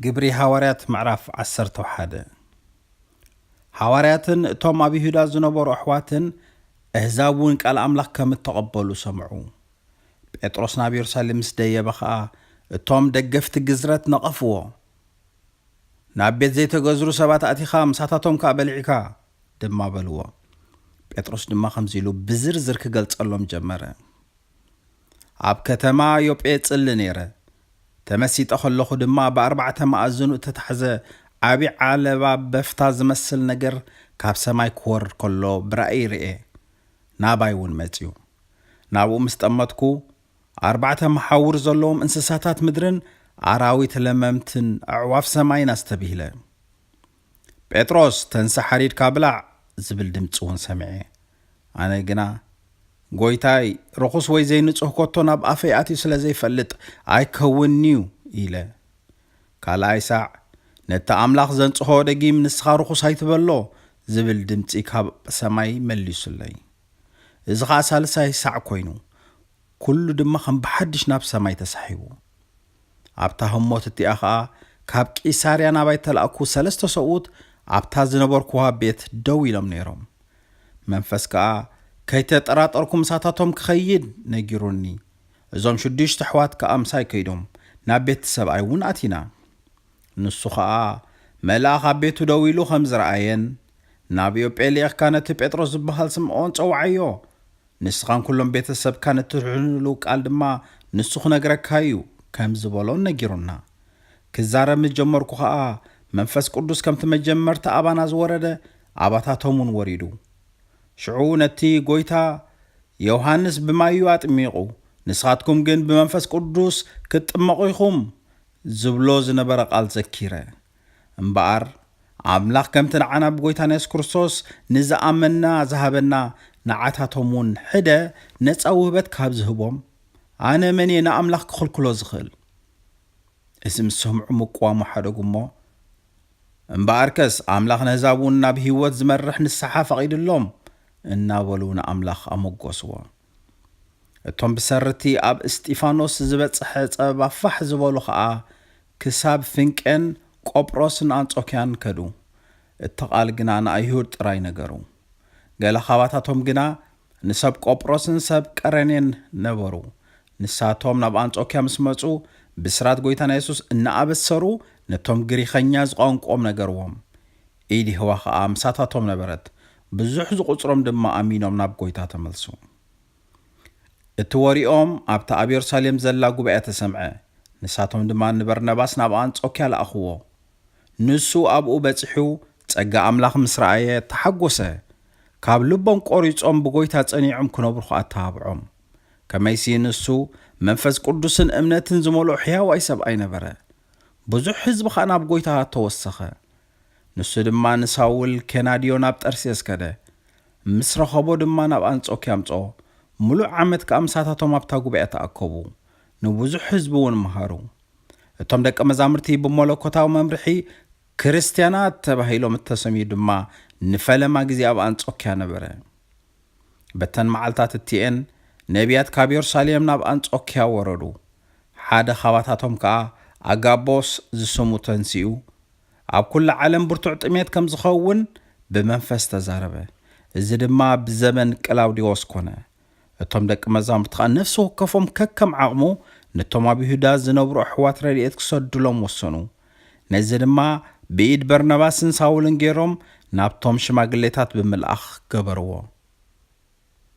ግብሪ ሃዋርያት ምዕራፍ ዓሰርተው ሓደ ሃዋርያትን እቶም ኣብ ይሁዳ ዝነበሩ ኣሕዋትን እህዛብ እውን ቃል ኣምላኽ ከም እተቐበሉ ሰምዑ። ጴጥሮስ ናብ የሩሳሌም ምስ ደየበ ኸኣ እቶም ደገፍቲ ግዝረት ነቐፍዎ። ናብ ቤት ዘይተገዝሩ ሰባት ኣቲኻ ምሳታቶም ከኣ በሊዕካ ድማ በልዎ። ጴጥሮስ ድማ ከምዚ ኢሉ ብዝርዝር ክገልጸሎም ጀመረ። ኣብ ከተማ ዮጴ እጽሊ ነይረ። ተመሲጠ ኸለኹ ድማ ብኣርባዕተ መኣዝኑ እተታሕዘ ዓብዪ ዓለባ በፍታ ዚመስል ነገር ካብ ሰማይ ኪወርድ ከሎ ብራእይ ርእየ። ናባይ እውን መጺኡ። ናብኡ ምስ ጠመትኩ፣ ኣርባዕተ መሓውር ዘለዎም እንስሳታት ምድርን ኣራዊት ለመምትን ኣዕዋፍ ሰማይን ኣስተብሂለ። ጴጥሮስ ተንሳእ ሓሪድካ ብላዕ ዝብል ድምጺ ውን ሰሚዐ። ኣነ ግና ጎይታይ ርኹስ ወይ ዘይንጹህ ኮቶ ናብ ኣፈይ ኣትዩ ስለ ዘይፈልጥ ኣይከውንንዩ ኢለ። ካልኣይ ሳዕ ነቲ ኣምላኽ ዘንጽሆ ደጊም ንስኻ ርኹስ ኣይትበሎ ዝብል ድምጺ ካብ ሰማይ መሊሱለይ። እዚ ኸኣ ሳልሳይ ሳዕ ኮይኑ ኩሉ ድማ ከም ብሓድሽ ናብ ሰማይ ተሳሒቡ። ኣብታ ህሞት እቲኣ ኸኣ ካብ ቂሳርያ ናባይ እተላእኩ ሰለስተ ሰብኡት ኣብታ ዝነበርኩዋ ቤት ደው ኢሎም ነይሮም። መንፈስ ከኣ ከይተጠራጠርኩ ምሳታቶም ክኸይድ ነጊሩኒ። እዞም ሽዱሽተ ኣሕዋት ከኣ ምሳይ ከይዶም፣ ናብ ቤት እቲ ሰብኣይ እውን ኣቲና። ንሱ ኸኣ መልኣኽ ኣብ ቤቱ ደው ኢሉ ኸም ዝረኣየን፣ ናብ ዮጴ ልኢኽካ ነቲ ጴጥሮስ ዝበሃል ስምዖን ጸውዓዮ፣ ንስኻን ኩሎም ቤተሰብካን እትድሕኑሉ ቃል ድማ ንሱ ክነግረካ እዩ ከም ዝበሎ ነጊሩና። ክዛረብ ምስ ጀመርኩ ኸኣ መንፈስ ቅዱስ ከምቲ መጀመርታ ኣባና ዝወረደ ኣባታቶም እውን ወሪዱ። ሽዑ ነቲ ጐይታ፣ ዮሃንስ ብማይ እዩ ኣጥሚቑ፣ ንስኻትኩም ግን ብመንፈስ ቅዱስ ክትጥመቑ ኢኹም ዝብሎ ዝነበረ ቃል ዘኪረ። እምበኣር ኣምላኽ ከምቲ ንዓና ብጐይታና የሱስ ክርስቶስ ንዝኣመንና ዝሃበና ንዓታቶም እውን ሕደ ነጻ ውህበት ካብ ዝህቦም ኣነ መን እየ ንኣምላኽ ክኽልክሎ ዝኽእል? እዚ ምስ ሰምዑ ምቅዋሙ ሓደጉ እሞ እምበኣርከስ ኣምላኽ ነህዛብ እውን ናብ ህይወት ዝመርሕ ንስሓ ፈቒድሎም እናበሉ ንኣምላኽ ኣመጐስዎ። እቶም ብሰሪ'ቲ ኣብ እስጢፋኖስ ዝበጽሐ ጸበባ ፋሕ ዝበሉ ኸኣ ክሳብ ፍንቄን ቆጵሮስን ኣንጾክያን ከዱ። እቲ ቓል ግና ንኣይሁድ ጥራይ ነገሩ። ገለ ኻባታቶም ግና ንሰብ ቆጵሮስን ሰብ ቀሬኔን ነበሩ። ንሳቶም ናብ ኣንጾክያ ምስ መጹ ብስራት ጐይታና የሱስ እናኣበሰሩ ነቶም ግሪኸኛ ዝቛንቁኦም ነገርዎም። ኢድ የሆዋ ኸኣ ምሳታቶም ነበረት፣ ብዙሕ ዝቝጽሮም ድማ ኣሚኖም ናብ ጐይታ ተመልሱ። እቲ ወሬኦም ኣብታ ኣብ የሩሳሌም ዘላ ጉባኤ ተሰምዐ፣ ንሳቶም ድማ ንበርናባስ ናብ ኣንጾክያ ለኣኽዎ። ንሱ ኣብኡ በጺሑ ጸጋ ኣምላኽ ምስ ረኣየ፣ ተሓጐሰ፣ ካብ ልቦም ቈሪጾም ብጐይታ ጸኒዖም ክነብሩ ኸኣ ኣተባብዖም። ከመይሲ፣ ንሱ መንፈስ ቅዱስን እምነትን ዝመልኦ ሕያዋይ ሰብኣይ ነበረ። ብዙሕ ህዝቢ ኸኣ ናብ ጐይታ ተወሰኸ። ንሱ ድማ ንሳውል ኬናድዮ ናብ ጠርሴስ ከደ። ምስ ረኸቦ ድማ ናብ ኣንጾክያ ኣምጽኦ፣ ምሉእ ዓመት ከኣ ምሳታቶም ኣብታ ጉባኤ ተኣከቡ፣ ንብዙሕ ህዝቢ እውን መሃሩ። እቶም ደቀ መዛሙርቲ ብመለኮታዊ መምርሒ ክርስትያናት ተባሂሎም እተሰምዩ ድማ ንፈለማ ግዜ ኣብ ኣንጾክያ ነበረ። በተን መዓልታት እቲኤን ነብያት ካብ የሩሳሌም ናብ ኣንጾክያ ወረዱ፣ ሓደ ኻባታቶም ከኣ ኣጋቦስ ዝስሙ ተንሲኡ ኣብ ኩሉ ዓለም ብርቱዕ ጥሜት ከም ዝኸውን ብመንፈስ ተዛረበ። እዚ ድማ ኣብ ዘመን ቅላውዴዎስ ኮነ። እቶም ደቂ መዛሙርቲ ኸኣ ነፍሲ ወከፎም ከከም ዓቕሙ ነቶም ኣብ ይሁዳ ዝነብሩ ኣሕዋት ረድኤት ክሰዱሎም ወሰኑ። ነዚ ድማ ብኢድ በርናባስን ሳውልን ገይሮም ናብቶም ሽማግሌታት ብምልኣኽ ገበርዎ።